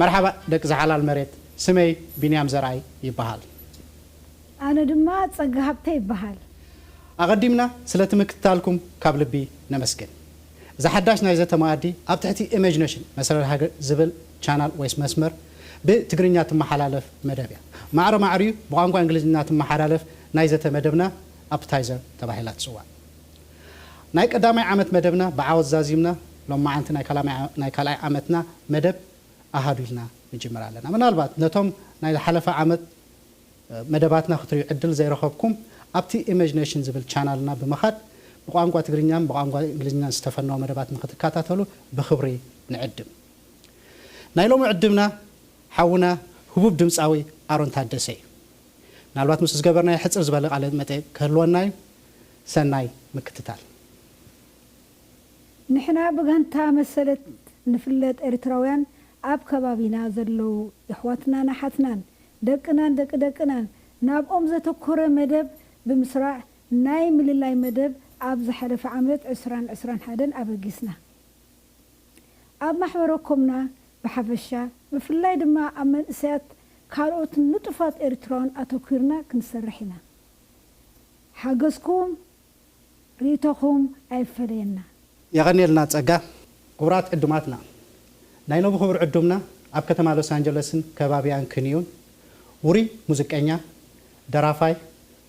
መርሓባእ ደቂ ዛሓላል መሬት ስመይ ቢንያም ዘርኣይ ይባሃል። ኣነ ድማ ጸጋ ሃብተ ይበሃል። ኣቐዲምና ስለቲ ምክትታልኩም ካብ ልቢ ነመስግን። እዚ ሓዳሽ ናይ ዘተ መኣዲ ኣብ ትሕቲ ኢመጅነሽን፣ መሰረት ሃገር፣ ዝብል ቻናል ወይስ መስመር ብ ትግርኛ ትመሓላለፍ መደብ እያ። ማዕረ ማዕሪኡ ብቋንቋ እንግሊዝኛ ትመሓላለፍ ናይ ዘተ መደብና ኣፕታይዘር ተባሂላ ትጽዋዕ። ናይ ቀዳማይ ዓመት መደብና ብዓወት ዛዚምና ሎማዓንቲ ናይ ካልኣይ ዓመትና መደብ ኣሃዱ ኢልና ንጅምር ኣለና። ምናልባት ነቶም ናይ ዝሓለፈ ዓመት መደባትና ክትሪኡ ዕድል ዘይረኸብኩም ኣብቲ ኢመጅነሽን ዝብል ቻናልና ብምኻድ ብቋንቋ ትግርኛን ብቋንቋ እንግሊዝኛን ዝተፈነወ መደባት ንክትከታተሉ ብኽብሪ ንዕድም። ናይ ሎሚ ዕድምና ሓውና ህቡብ ድምጻዊ ኣሮን ታደሰ እዩ። ምናልባት ምስኡ ዝገበርናዮ ሕጽር ዝበለ ቃለ መጠይቅ ክህልወና እዩ። ሰናይ ምክትታል። ንሕና ብጋንታ መሰለት ንፍለጥ ኤሪትራውያን ኣብ ከባቢና ዘለዉ የሕዋትናን ኣሓትናን ደቅናን ደቂ ደቅናን ናብኦም ዘተኮረ መደብ ብምስራዕ ናይ ምልላይ መደብ ኣብ ዝሓለፈ ዓመት ዕስራን ዕስራን ሓደን ኣበጊስና ኣብ ማሕበረኮምና ብሓፈሻ ብፍላይ ድማ ኣብ መንእሰያት ካልኦት ንጡፋት ኤሪትራውያን ኣተኪርና ክንሰርሕ ኢና ሓገዝኩም ሪኢቶኹም ኣይፈለየና። የቐንየልና ጸጋ። ክቡራት ዕዱማትና፣ ናይ ሎሚ ክቡር ዕዱምና ኣብ ከተማ ሎስ ኣንጀለስን ከባቢኣን ክንዩን ውሩይ ሙዝቀኛ፣ ደራፋይ፣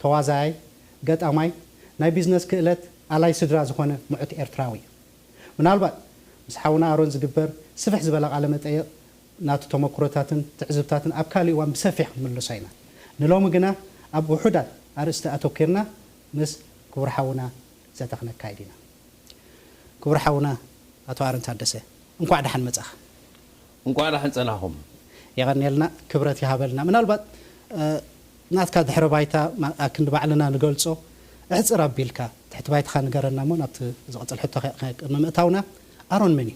ተዋዛያይ፣ ገጣማይ፣ ናይ ቢዝነስ ክእለት ኣላይ ስድራ ዝኾነ ሙዑት ኤርትራዊ እዩ። ምናልባት ምስ ሓውና ኣሮን ዝግበር ስፍሕ ዝበለ ቃለ መጠይቕ ናቱ ተመኩሮታትን ትዕዝብታትን ኣብ ካልእ እዋን ብሰፊሕ ክንምልሶ ኢና። ንሎሚ ግና ኣብ ውሑዳት ኣርእስቲ ኣተኲርና ምስ ክቡር ሓውና ዘተ ክነካይድ ኢና። ክቡር ሓውና ኣቶ ኣሮን ታደሰ እንኳዕ ደሓን መጻኻ። እንኳዕ ደሓን ጸናኹም። የቐንየልና ክብረት ይሃበልና። ምናልባት ናትካ ድሕረ ባይታ ኣክንዲ ባዕልና ንገልጾ ኣሕጽር ኣቢልካ ትሕቲ ባይታኻ ንገረና እሞ ናብቲ ዝቕጽል ሕቶ ንምእታውና ኣሮን መን እዩ?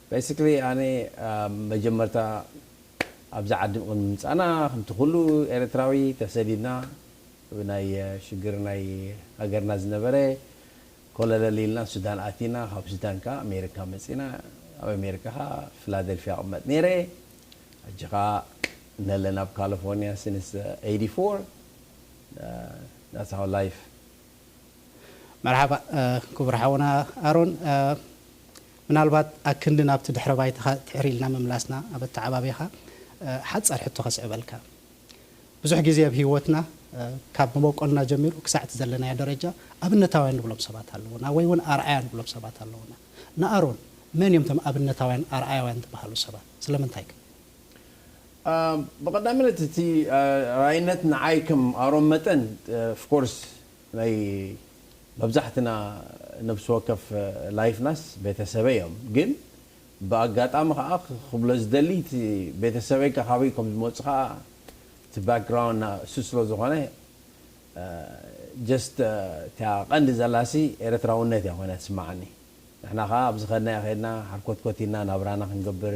Basically ኣነ ኣብ መጀመርታ ኣብዚ ዓዲ ቅድሚ ምምጻእና ከምቲ ኩሉ ኤረትራዊ ተሰዲድና ብናይ ሽግር ናይ ሃገርና ዝነበረ ኮለለል ኢልና ሱዳን ኣቲና ካብ ሱዳን ከኣ ኣሜሪካ መጺና ኣብ ኣሜሪካ ከኣ ፍላደልፍያ እቅመጥ ኔረ ሕጂ ከኣ ነለን ኣብ ካለፎርንያ since eighty four that's how life መርሓባ ክቡር ሓውና ኣሮን ምናልባት ኣክንዲ ናብቲ ድሕረ ባይታኻ ትሕር ኢልና ምምላስና ኣብ ኣተዓባብያኻ ሓጻር ሕቶ ከስዕበልካ ብዙሕ ግዜ ኣብ ሂወትና ካብ መቦቆልና ጀሚሩ ክሳዕ እቲ ዘለናዮ ደረጃ ኣብነታውያን ንብሎም ሰባት ኣለዉና ወይ ውን ኣርኣያ ንብሎም ሰባት ኣለዉና ንኣሮን መን እዮም እቶም ኣብነታውያን ኣርኣያውያን ዝበሃሉ ሰባት ስለምንታይከ? ብቀዳምነት እቲ ራይነት ንዓይ ከም ኣሮን መጠን of course ናይ መብዛሕትና ነብሲ ወከፍ ላይፍናስ ቤተሰበይ እዮም ግን ብኣጋጣሚ ከኣ ክብሎ ዝደሊ እቲ ቤተሰበይ ካበይ ከም ዝመጹ ከኣ እቲ ባክግራውንድ ናእሱ ስለ ዝኮነ just እታ ቀንዲ ዘላሲ ኤረትራውነት እያ ኮይና ትስመዓኒ ንሕና ከኣ ኣብ ዝከድናዮ ከድና ሓርኮትኮት ኢልና ናብራና ክንገብር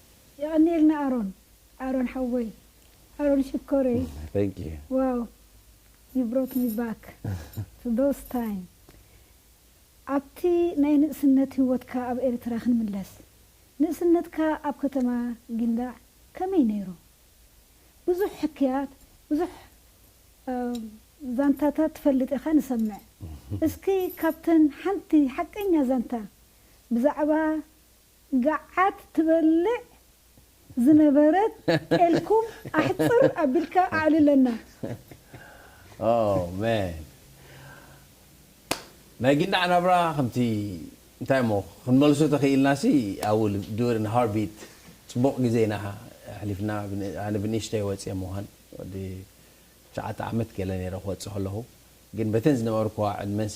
የቐንየልና ኣሮን ኣሮን ሓወይ ኣሮን ሽኮርይ Thank you ዋው ዩ ብሮት ሚ ባክ ቱ ዶስ ታይም ኣብቲ ናይ ንእስነት ሂወትካ ኣብ ኤርትራ ክንምለስ ንእስነትካ ኣብ ከተማ ጊንዳዕ ከመይ ነይሩ ብዙሕ ሕክያት ብዙሕ ዛንታታት ትፈልጥ ኢኻ ንሰምዕ እስኪ ካብተን ሓንቲ ሓቀኛ ዛንታ ብዛዕባ ጋዓት ትበልዕ ዝነበረት ጤልኩም ኣሕጽር ኣቢልካ ኣዕልለና። Oh man ናይ ጊንዳዕ ናብራ ከምቲ እንታይ እሞ ክንመልሶ ተኺኢልናሲ I will do it in a heartbeat ጽቡቕ ግዜ ኢና ኣሕሊፍና ኣነ ብንእሽተይ ወጽየ ምዃን ወዲ ትሽዓተ ዓመት ገለ ኔረ ክወጽእ ከለኹ ግን በተን ዝነበርክዋ ዕድመንሲ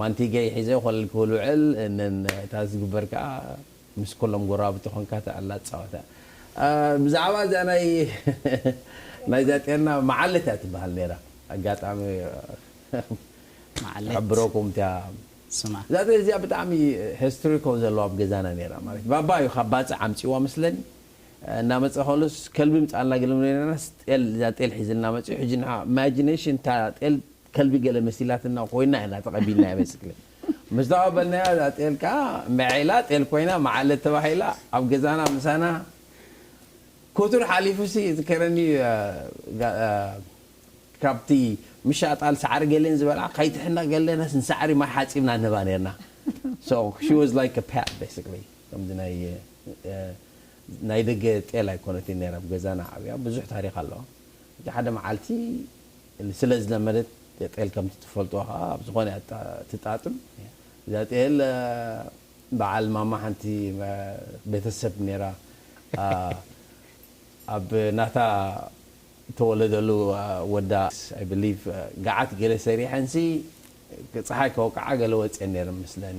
ማንቲገይ ሒዘ ኮለል ክብል ውዕል እንን እታ ዝግበር ከኣ ምስ ኩሎም ጎረባብቲ ኮንካ ትዕላ ትጻወታ ብዛዕባ እዚኣ ናይ ናይዛ ጤና መዓልት እያ ትበሃል ነይራ ኣጋጣሚ መዓልት ክሕብረኩም እታ ስማ እዛ ጤል እዚኣ ብጣዕሚ ሄስትሪኮ ዘለዋ ኣብ ገዛና ነይራ ማለት ባባ እዩ ካብ ባጽዕ ኣምጺእዋ መስለኒ እናመጸ ከሎስ ከልቢ ምጻእና ግልም ነይርናስ ጤል እዛ ጤል ሒዝልና መጺኡ ሕጂ ንዓ ኢማጂነሽን እታ ጤል ከልቢ ገለ መሲላትና ኮይና ኢና ተቐቢልናያ በስክለ ምስ ተቐበልናያ እዛ ጤል ከኣ መዔ ኢላ ጤል ኮይና መዓለት ተባሂላ ኣብ ገዛና ምሳና ኮቱር ሓሊፉሲ ይዝከረኒ ካብቲ ምሻጣል ሳዕሪ ገሌን ዝበልዓ ከይትሕነቕ ገለናስ ንሳዕሪ ማይ ሓጺብና ንህባ ኔርና so she was like a pet basically ከምዚ ናይ ናይ ደገ ጤል ኣይኮነትን ኔራ ኣብ ገዛና ዓብያ ብዙሕ ታሪኽ ኣለዋ ሓደ መዓልቲ ስለ ዝለመደት ጤል ከምቲ ትፈልጦ ከኣ ኣብ ዝኾነ እያ ትጣጥም እዛ ጤል በዓል ማማ ሓንቲ ቤተሰብ ኔራ ኣብ ናታ ተወለደሉ ወዳ I believe ገዓት ገለ ሰሪሐንሲ ጸሓይ ከወቅዓ ገለ ወጺኤን ኔረን መስለኒ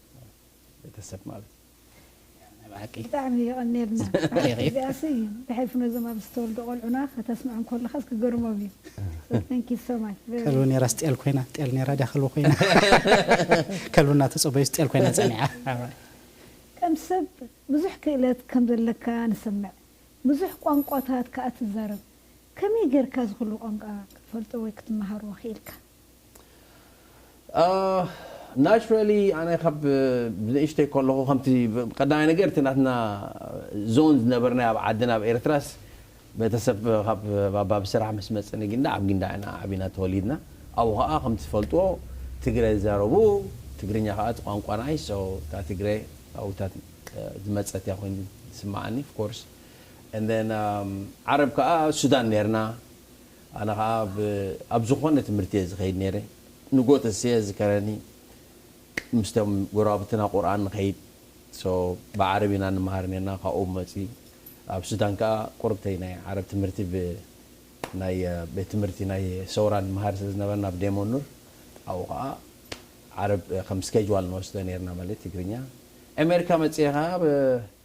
ቤተሰብ ማለት ናይ ብሓቂ። ብጣዕሚ የቐንየልና ብሓቂ እዚኣሲ ብሕልፊ ነዞም ኣብዚ ዝተወልዱ ቆልዑና ከተስምዖም ከለኻስ ክገርሞም እዩ so thank you so much very ከልቢ ኔራስ ጤል ኮይና ጤል ኔራ ድያ ከልቢ ኮይና ከልቢ እናተጸበዩስ ጤል ኮይና ጸኒዓ ከም ሰብ ብዙሕ ክእለት ከም ዘለካ ንሰምዕ ብዙሕ ቋንቋታት ክኣ ትዛረብ ከመይ ጌርካ እዚ ኩሉ ቋንቋ ክትፈልጦ ወይ ክትመሃሮ ክኢልካ? ናቹራሊ ኣነ ካብ ንእሽተይ ከለኹ ከምቲ ቀዳማይ ነገር እቲ ናትና ዞን ዝነበርናዮ ኣብ ዓድና ኣብ ኤርትራስ ቤተሰብ ካብ ባባ ብስራሕ ምስ መጸ ንጊንዳዕ ኣብ ጊንዳዕ ኢና ዓቢና ተወሊድና ኣብኡ ከኣ ከምቲ ትፈልጥዎ ትግረ ዝዛረቡ ትግርኛ ከኣ እቲ ቋንቋና እዩ so እታ ትግረ ኣብኡታ ዝመጸት እያ ኮይኑ ዝስመዓኒ of course and then ዓረብ ከኣ ሱዳን ኔርና ኣነ ከኣ ኣብ ዝኾነ ትምህርቲ እየ ዝኸይድ ነይረ ንግሆ ተሲኤ ዝዝከረኒ ምስቶም ጎረባብትና ቁርኣን ንኸይድ so ብዓረብ ኢና ንመሃር ነርና ካብኡ መጺ ኣብ ሱዳን ከኣ ቁርብተይ ናይ ዓረብ ትምህርቲ ብ ናይ ቤት ትምህርቲ ናይ ሰውራ ንመሃር ስለ ዝነበርና ኣብ ዴሞ ኑር ኣብኡ ከኣ ዓረብ ከም ስኬጅዋል ንወስዶ ነርና ማለት ትግርኛ ኤሜርካ መጺኤ ከኣ ብ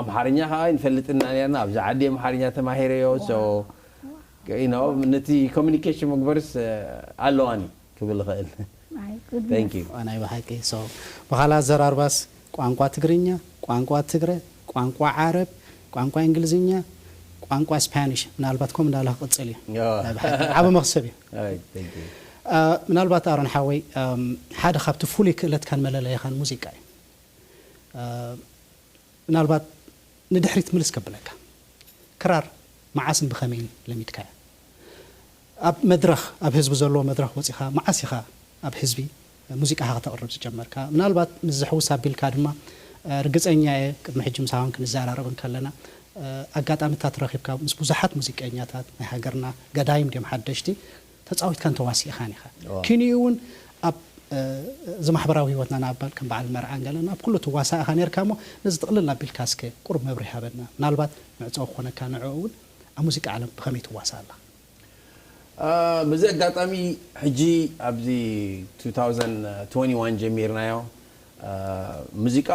ኣምሓርኛ ከኣ ኣይንፈልጥን ኢና ኔርና ኣብዚ ዓዲ ኣምሓርኛ ተማሂረዮ so you know ነቲ communication መግበርስ ኣለዋኒ ክብል ይኽእል thank you። ናይ ብሓቂ so ብካልእ ኣዘራርባስ ቋንቋ ትግርኛ፣ ቋንቋ ትግረ፣ ቋንቋ ዓረብ፣ ቋንቋ እንግሊዝኛ፣ ቋንቋ ስፓኒሽ ምናልባት ከምኡ እንዳበለ ክቕጽል እዩ ናይ ብሓቂ ዓቢ መኽሰብ እዩ። ኣይ thank you። ምናልባት ኣሮን ሓወይ ሓደ ካብቲ ፍሉይ ክእለትካን መለለይኻን ሙዚቃ እዩ። ምናልባት ንድሕሪት ምልስ ከብለካ ክራር መዓስን ብኸመይን ለሚድካያ? ኣብ መድረኽ ኣብ ህዝቢ ዘለዎ መድረኽ ወጺኻ መዓስ ኢኻ ኣብ ህዝቢ ሙዚቃኻ ከተቕርብ ዝጀመርካ? ምናልባት ምስዚ ሕውስ ኣቢልካ ድማ ርግጸኛ እየ ቅድሚ ሕጂ ምሳኻውን ክንዘራረብ እንከለና ኣጋጣሚታት ረኺብካ ምስ ብዙሓት ሙዚቀኛታት ናይ ሃገርና ገዳይም ድዮም ሓደሽቲ ተጻዊትካን ተዋሲእኻን ኢኻ። ኪንኡ ውን ኣብ እዚ ማሕበራዊ ህይወትና ንኣባል ከም በዓል መርዓን ገለን ኣብ ኩሉ ትዋሳእ ኢኻ ኔርካ እሞ ነዚ ጥቕልል ኣቢልካ እስከ ቁሩብ መብርሂ ሃበና። ምናልባት ምዕጸዊ ክኾነካ ንዕኡ ውን ኣብ ሙዚቃ ዓለም ብኸመይ ትዋሳእ ኣለኻ? በዚ ኣጋጣሚ ሕጂ ኣብዚ two thousand twenty one ጀሚርናዮ ሙዚቃ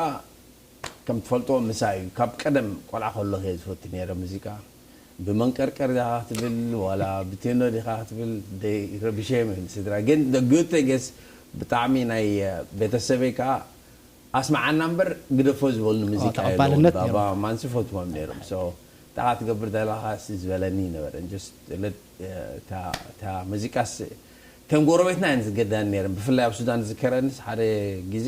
ከም ትፈልጦ ምሳይ ካብ ቀደም ቆልዓ ከለኩ እየ ዝፈቱ ነይረ ሙዚቃ ብመንቀርቀር ዲካ ክትብል ዋላ ብቴኖ ዲካ ክትብል ደይ ረቢሸዮም እዮም ስድራይ ግን the good thing is ብጣዕሚ ናይ ቤተሰበይ ከኣ ኣስምዓና እምበር ግደፎ ዝበሉኒ ሙዚቃ የለዉን ተቐባልነት ነይሩ። ባባ ማማንስ ይፈትዎም ነይሮም so ታካ ትገብር ዘለካ ሲ ዝበለኒ ነበረ and just let እታ እታ ሙዚቃስ እተን ጎረቤትና እየን ዝገድዳኒ ነይረን ብፍላይ ኣብ ሱዳን ዝዝከረንስ ሓደ ግዜ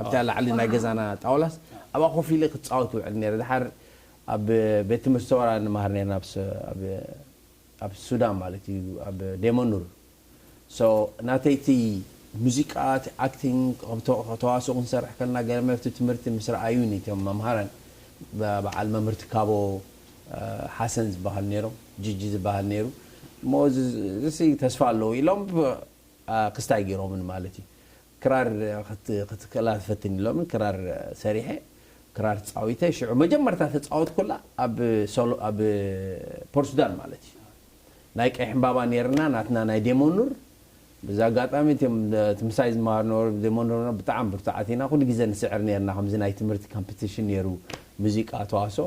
ኣብታ ላዕሊ ናይ ገዛና ጣውላስ ኣብኣ ኮፍ ኢለ ክጻወት ይውዕል ነይረ። ደሓር ኣብ ቤት ትምህርቲ ሰወራ ንመሃር ነይርና ኣብ ኣብ ሱዳን ማለት እዩ ኣብ ዴመኑር so ናተይ እቲ ሙዚቃ እቲ ኣክቲንግ ከምቲ ተዋስኦ ክንሰርሕ ከለና ገለ መለ እቲ ትምህርቲ ምስ ረኣዩኒ እቶም መምሃራን በዓል መምህር ትካቦ ሓሰን ዝበሃሉ ነይሮም ጂጂ ዝበሃል ነይሩ እሞ እዚ እዚ ተስፋ ኣለዎ ኢሎም ክስታ ኣይገይሮምን ማለት እዩ። ክራር ክትክእላ ፈትን ኢሎምን ክራር ሰሪሐ ክራር ተጻዊተ ሽዑ መጀመርታ ተጻወትኩላ ኣብ ሶሎ ኣብ ፖርትሱዳን ማለት እዩ። ናይ ቀይሕ ዕምባባ ኔርና ናትና ናይ ዴሞኑር ብዚ ኣጋጣሚ እቲም እቲ ምሳይ ዝመሃሩ ነበሩ ዴሞኑር ብጣዕሚ ብርቱዓት ኢና ኩሉ ግዜ ንስዕር ኔርና ከምዚ ናይ ትምህርቲ ካምፕቲሽን ኔሩ ሙዚቃ ተዋስኦ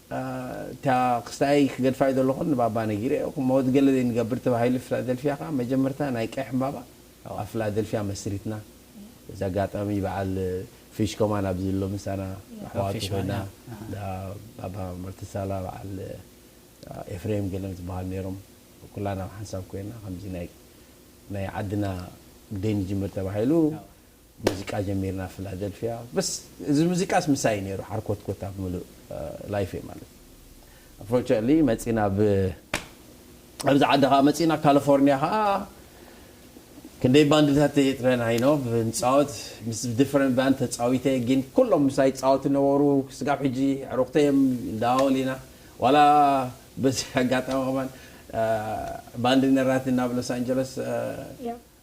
እታ ክስታየይ ክገድፋ'ዩ ዘለኹ ንባባ ነጊረዮ። ክመወት ገለ ዘይንገብር ተባሂሉ ፊላደልፊያ ከኣ መጀመርታ ናይ ቀይሕ ዕምባባ ኣብ ፊላደልፊያ መስሪትና። በዚ ኣጋጣሚ በዓል ፊሽ ከማን ኣብዚ ኣሎ ምሳና ኣሕዋቱ ኮይና እንዳ ባባ ማርተሳላ በዓል ኤፍሬም ገለም ዝበሃሉ ነይሮም ኩላና ኣብ ሓንሳብ ኮይና ከምዚ ናይ ናይ ዓድና ግደይ ንጅምር ተባሂሉ ሙዚቃ ጀሚርና ፍላደልፍያ በስ እዚ ሙዚቃስ ምሳይ እዩ ነይሩ ሓርኮትኮት ኣብ ምሉእ ላይፈይ ማለት ኣንፎርቸንትሊ መጺና ኣብ ኣብዚ ዓዲ ከዓ መጺና ካሊፎርኒያ ከዓ ክንደይ ባንድታት የጥረና ኢኖ ንፃወት ምስ ዲፈረንት ባንድ ተፃዊተ ግን ኩሎም ምሳይ ይፃወቱ ነበሩ ስጋብ ሕጂ ዕሩክተይ እዮም ንደዋወል ኢና ዋላ በዚ ኣጋጣሚ ከማን ባንድ ነራቲ ናብ ሎስ ኣንጀለስ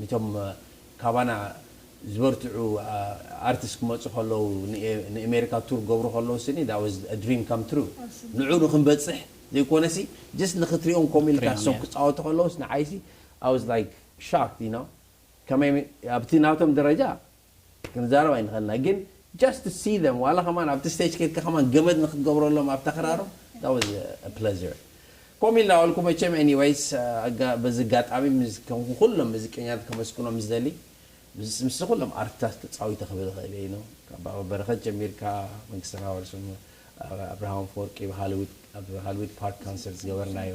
ንቶም ካባና ዝበርትዑ ኣርትስ ክመጹ ከለዉ ንኤሜሪካ ቱር ክገብሩ ከለዉ ስኒ that was a dream come true ንዑኡ ንክንበጽሕ ዘይኮነሲ just ንክትሪኦም ከምኡ ኢልካ እሶም ክጻወቱ ከለዉስ ንዓይሲ I was like shocked you know ከመይ ኣብቲ ናቶም ደረጃ ክንዛረብ ኣይንክእልና ግን just to see them ዋላ ከማን ኣብቲ stage ከድካ ከማን ገመድ ንክትገብረሎም ኣብታ ክራሮም that was a pleasure ከምኡ ኢልና በልኩ መቸም anyways በዚ ኣጋጣሚ ምስ ከምኩ ኩሎም መዚቀኛታት ከመስግኖም ዝደሊ ምስ ምስዚ ኩሎም ኣርትታት ተጻዊተ ክብል ይክእል እየ ን ካብ ባባ በረከት ጀሚርካ መንግስተ ናወርስ ኣብርሃም ኣፈወርቂ ኣብ ሃልዊት ኣብ ሃልዊት ፓርክ ካንሰርት ዝገበርናዮ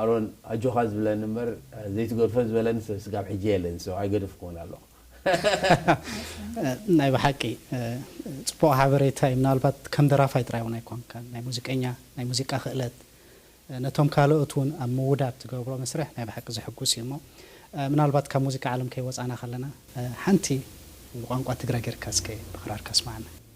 ኣሮን ኣጆኻ ዝብለኒ እምበር ዘይትገድፎ ዝበለኒ ሰብ ስጋብ ሕጂ የለን so ኣይገደፍክዎን ኣለኹ። ናይ ብሓቂ ጽቡቕ ሓበሬታ እዩ ምናልባት ከም ደራፋይ ጥራይ ውን ኣይኮንካን ናይ ሙዚቀኛ ናይ ሙዚቃ ክእለት ነቶም ካልኦት ውን ኣብ ምውዳድ ትገብሮ መስርሕ ናይ ብሓቂ ዘሕጉስ እዩ እሞ ምናልባት ካብ ሙዚቃ ዓለም ከይወጻና ከለና ሓንቲ ብቋንቋ ትግረ ጌርካ እስከ ብክራር ከስማዓና።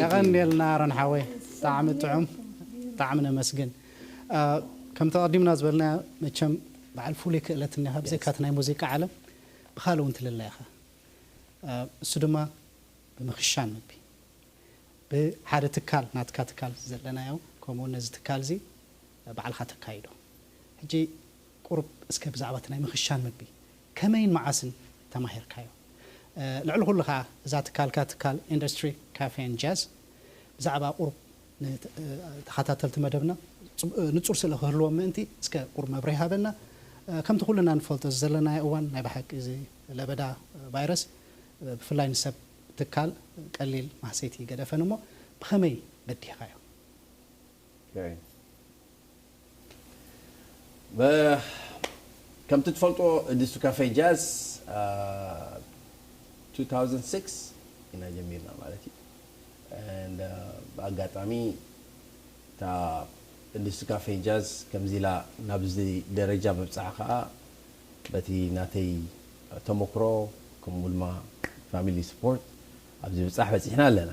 የቐንየልና ኣሮን ሓወይ ብጣዕሚ ጥዑም ብጣዕሚ ነመስግን ከምቲ ኣቐዲምና ዝበልናዮ መቸም በዓል ፍሉይ ክእለት እኒኻ ብዘይካ እቲ ናይ ሙዚቃ ዓለም ብኻልእ እውን ትልለ ኢኻ እሱ ድማ ብምኽሻን ምግቢ ብሓደ ትካል ናትካ ትካል ዘለናዮ ከምኡ እውን ነዚ ትካል እዚ ባዕልኻ ተካይዶ ሕጂ ቁሩብ እስከ ብዛዕባ እቲ ናይ ምኽሻን ምግቢ ከመይን መዓስን ተማሂርካዮ? ልዕሊ ኩሉ ከኣ እዛ ትካልካ ትካል ኢንዱስትሪ ካፌን ጃዝ ብዛዕባ ቁሩብ ንተኻታተልቲ መደብና ንጹር ስእሊ ክህልዎም ምእንቲ እስከ ቁሩብ መብርሂ ሃበና። ከምቲ ኩልና ንፈልጦ እዚ ዘለናዮ እዋን ናይ ብሓቂ እዚ ለበዳ ቫይረስ ብፍላይ ንሰብ ትካል ቀሊል ማህሰይቲ እይገደፈን እሞ ብኸመይ በዲህካዮ? ከምቲ ትፈልጥዎ ዲሱ ካፌ ጃዝ ብ two thousand six ኢና ጀሚርና ማለት እዩ and ብኣጋጣሚ እታ ዲሱ ካፌ ጃዝ ከምዚ ኢላ ናብዚ ደረጃ ምብጽሓ ከኣ በቲ ናተይ ተሞክሮ ከምኡ ድማ ፋሚሊ ስፖርት ኣብዚ ብጻሕ በጺሕና ኣለና።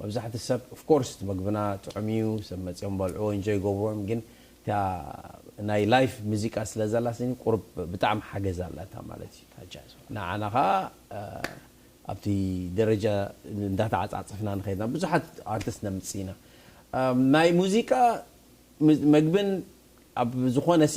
መብዛሕቲ ሰብ of course እቲ መግብና ጥዑም እዩ ሰብ መጽዮም በልዕዎ enjoy ይገብርዎ እዮም ግን እታ ናይ live ምዚቃ ስለ ዘላትኒ ቁሩብ ብጣዕሚ ሓገዝ ኣላታ ማለት እዩ ንዓና ከኣ ኣብቲ ደረጃ እንዳተዓጻጸፍና ንኸይድ ኢና ብዙሓት ኣርቲስት ነምጽእ ኢና ናይ ሙዚቃ መግብን ኣብ ዝኾነሲ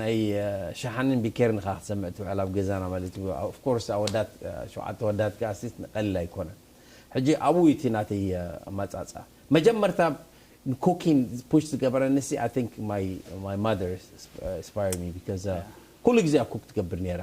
ናይ ሸሓኒን ቢኬርን ኢኻ ክትሰምዕ ትውዕል ኣብ ገዛና ማለት እዩ of course ኣወዳት ሸውዓተ ኣወዳት ከኣሲ ቀሊል ኣይኮነን ሕጂ ኣብኡ እዩ እቲ ናተይ ኣመጻጽኣ መጀመርታ ን cooking push ዝገበረኒሲ i think my my mother inspired me because ኩሉ ግዜ እያ cook ትገብር ኔራ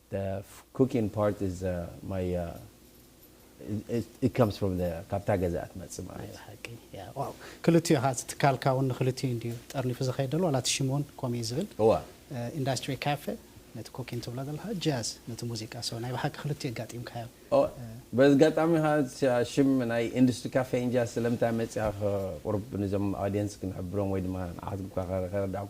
The cooking part is my it comes from the ካብታ ገዛ ትመጽእ ማለት እዩ። ሓቂ ያ ዋው ክልቲኡ ኢኻ እቲ ትካልካ እውን ንክልቲኡ እንድዩ ጠርኒፉ ዘኸይድ ዘሎ ዋላ እቲ ሽም እውን ከምኡ እዩ ዝብል እዋ ኢንዳስትሪ ካፌ ነቲ ኮኪን ትብሎ ዘለኻ ጃዝ ነቲ ሙዚቃ ሶ ናይ ብሓቂ ክልቲኡ ኣጋጢምካዮ ኦ በዝጋጣሚ ኸኣ እታ ሽም ናይ ኢንዱስትሪ ካፌ ኢን ጃዝ ስለምንታይ መጺኣ ቁሩብ ንዞም ኣውድየንስ ክንሕብሮም ወይ ድማ ንዓኻትኩም ከረዳእኩ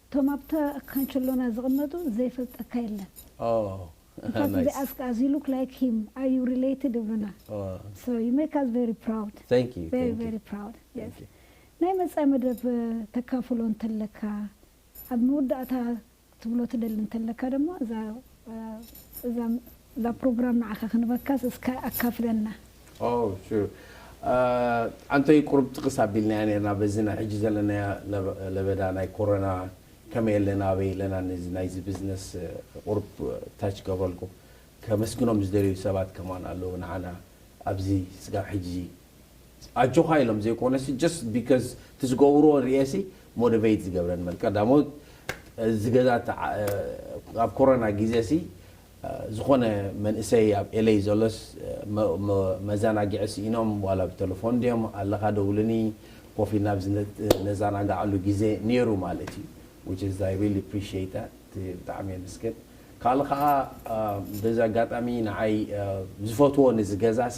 እቶም ኣብታ ካንቸሎና ዝቅመጡ ዘይፈልጠካ የለን እንኳስ እዚ ኣስክ ኣዝ ዩ ሉክ ላይክ ሂም ኣር ዩ ሪለይትድ ይብሉና ሶ ዩ ሜክ ኣስ ቨሪ ፕራውድ ቨሪ ቨሪ ፕራውድ የስ ናይ መጻኢ መደብ ተካፍሎ እንተለካ ኣብ መወዳእታ ክትብሎ ትደሊ እንተለካ ደሞ እዛ እዛ ፕሮግራም ንዓካ ክንበካስ እስከ ኣካፍለና። ኦው ሹር ኣንተይ ቁሩብ ጥቅስ ኣቢልናያ ኔርና በዚ ናይ ሕጂ ዘለናያ ለበዳ ናይ ኮሮና ከመይ ኣለና ኣበይ ኣለና ነዚ ናይዚ ብዝነስ ቁሩብ ታች ክገብረልኩም ከመስግኖም ዝደልዩ ሰባት ከማን ኣለዉ ንዓና ኣብዚ ስጋብ ሕጂ ኣጆኻ ኢሎም ዘይኮነሲ ጀስት ቢከዝ እቲ ዝገብርዎ ሪኤሲ ሞደቨይት ዝገብረኒ በል ቀዳሞት እዚ ገዛ ኣብ ኮሮና ግዜሲ ዝኾነ መንእሰይ ኣብ ኤለይ ዘሎስ መዘናግዒ ስኢኖም ዋላ ብተለፎን ድዮም ኣለኻ ደውልኒ ኮፍ ኢልና ኣብዚ ነዘናግዓሉ ግዜ ኔሩ ማለት እዩ which is I really appreciate that ብጣዕሚ የመስግን ካልእ ከዓ በዚ ኣጋጣሚ ንዓይ ዝፈትዎ ነዚ ገዛሲ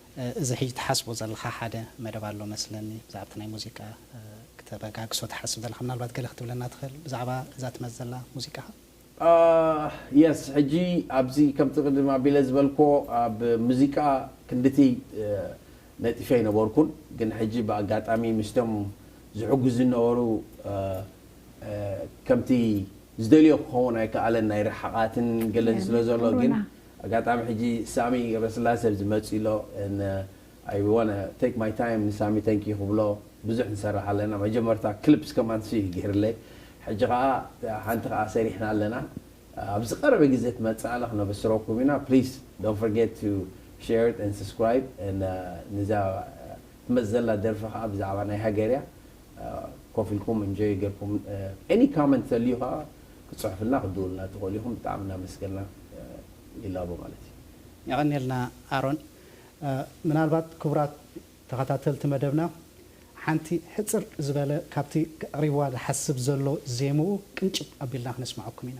እዚ ሕጂ ትሓስቦ ዘለኻ ሓደ መደብ ኣሎ መስለኒ ብዛዕባ እቲ ናይ ሙዚቃ ክተበጋግሶ ትሓስብ ዘለኻ ምናልባት ገለ ክትብለና ትኽእል ብዛዕባ እዛ ትመጽእ ዘላ ሙዚቃኻ? ኣህ የስ ሕጂ ኣብዚ ከምቲ ቅድም ኣቢለ ዝበልክዎ ኣብ ሙዚቃ ክንድቲ ነጢፈ ኣይነበርኩን ግን ሕጂ ብኣጋጣሚ ምስቶም ዝሕግዙኒ ዝነበሩ ከምቲ ዝደልዮ ክኸውን ኣይከኣለን ናይ ርሕቓትን ገለን ስለዘሎ ግን ኮሮና ኣጋጣሚ ሕጂ ሳሚ ገብረስላሰ ኣብዚ መጺኡ ኣሎ and I wanna take my time ንሳሚ thank you ክብሎ ብዙሕ ንሰርሕ ኣለና መጀመርታ clips ከማን ንሱ እዩ ጌርለይ ሕጂ ከኣ ሓንቲ ከኣ ሰሪሕና ኣለና ኣብ ዝቀረበ ግዜ ትመጽኣና ክነበስረኩም ኢና please don't forget to share it and subscribe and ንዛ ትመጽእ ዘላ ደርፊ ከኣ ብዛዕባ ናይ ሃገር እያ ኮፍ ኢልኩም enjoy ጌርኩም any comment ተልዩ ከኣ ክትጽሕፍልና ክትድውሉልና እትኽእሉ ኢኹም ብጣዕሚ እናመስገና ይላቦ ማለት እዩ። የቐኔልና ኣሮን። ምናልባት ክቡራት ተኸታተልቲ መደብና ሓንቲ ሕጽር ዝበለ ካብቲ ከቕሪብዋ ዝሓስብ ዘሎ ዜምኡ ቅንጭብ ኣቢልና ክነስምዓኩም ኢና።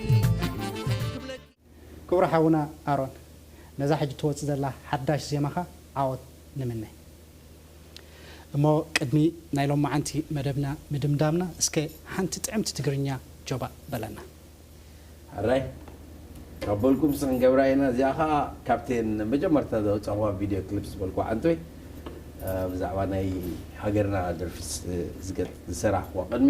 ክቡር ሓውና ኣሮን ነዛ ሕጂ ትወጽእ ዘላ ሓዳሽ ዜማኻ ዓወት ንምነ። እሞ ቅድሚ ናይ ሎምዓንቲ መደብና ምድምዳምና እስከ ሓንቲ ጥዕምቲ ትግርኛ ጆባእ በለና። ሕራይ ካብ በልኩም ሲ ክንገብራ ኢና እዚኣ ከኣ ካብተን መጀመርታ ዘውጻክዋ ቪድዮ ክሊፕ ዝበልክዋ ሓንቶይ ብዛዕባ ናይ ሃገርና ደርፊ ዝሰራሕክዋ ቅድሚ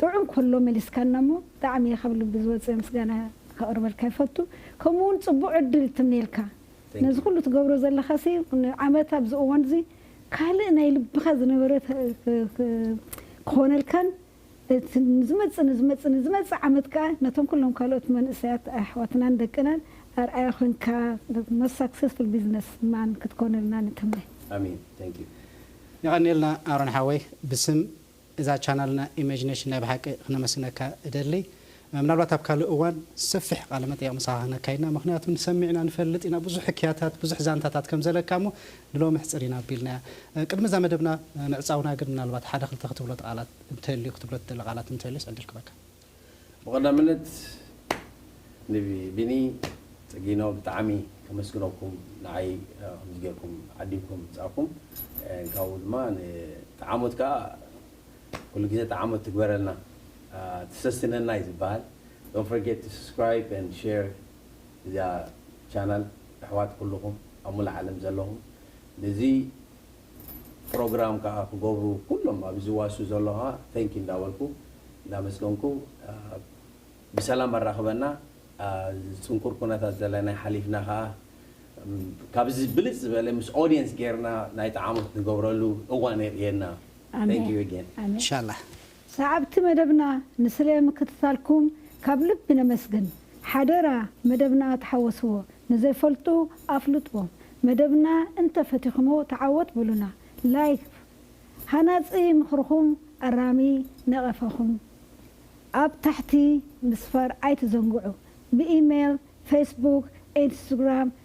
ጥዑም ከሎ መሊስካና እሞ ብጣዕሚ እየ ካብ ልቢ ዝወፀ ምስጋና ከቅርበልካ ይፈቱ ከምኡ እውን ፅቡቅ ዕድል ትምኔልካ ነዚ ኩሉ ትገብሮ ዘለካ ሲ ንዓመት ኣብዚ እዋን እዚ ካልእ ናይ ልብካ ዝነበረ ክኮነልካን እቲ ንዝመፅእ ንዝመፅእ ንዝመፅእ ዓመት ከዓ ነቶም ኩሎም ካልኦት መንእሰያት ኣሕዋትናን ደቅናን ኣርኣያ ኮይንካ ሞስት ሳክሰስፉል ቢዝነስ ማን ክትኮነልና ንትምነ። ኣሜን ታንኪው የቀንየልና ኣሮን ሓወይ ብስም እዛ ቻናልና ኢመጅ ነሽን ናይ ብሓቂ ክነመስግነካ እደሊ ምናልባት ኣብ ካልእ እዋን ሰፊሕ ቃለ መጠየቅ ምሳካ ክነካይድና ምክንያቱ ንሰሚዕና ንፈልጥ ኢና ብዙሕ ሕክያታት ብዙሕ ዛንታታት ከም ዘለካ እሞ ንሎሚ ኣሕጽር ኢና ኣቢልናያ ቅድሚ እዛ መደብና ምዕጻውና ግን ምናልባት ሓደ ክልተ ክትብሎ ትቃላት እንተልዩ ክትብሎ ትደሊ ቃላት እንተልዩስ ዕድል ክበካ። ብቀዳምነት ንቢኒ ፅጊኖ ብጣዕሚ ከመስግነኩም ንዓይ ከምዚ ገይርኩም ዓዲምኩም ምምፃእኩም ካብኡ ድማ ንጠዓሞት ከዓ ኩሉ ግዜ ጠዓሞት ትግበረልና ትሰስነና እዩ ዝበሃል don't forget to subscribe and share እዛ ቻናል ኣሕዋት ኩሉኩም ኣብ ሙሉእ ዓለም ዘለኩም ንዚ ፕሮግራም ከኣ ክገብሩ ኩሎም ኣብዚ ዝዋሱ ዘሎ ከኣ Thank you እንዳበልኩ እንዳመስገንኩ ብሰላም ኣራክበና ጽንኩር ኩነታት ዘለና ሓሊፍና ከኣ ካብዚ ብልጽ ዝበለ ምስ Audience ጌርና ናይቲ ዓመት ንገብረሉ እዋን የርእየና Thank you again። ኣሜን ኢንሻላህ። ሰዓብቲ መደብና ንስለ ምክትታልኩም ካብ ልቢ ነመስግን ሓደራ መደብና ተሓወስዎ ንዘይፈልጡ ኣፍልጥዎም መደብና እንተ ፈቲክሞ ተዓወት በሉና like ሃናጺ ምክርኩም ኣራሚ ነቀፈኩም ኣብ ታሕቲ ምስፋር ኣይትዘንግዑ ብኢሜል facebook ኢንስታግራም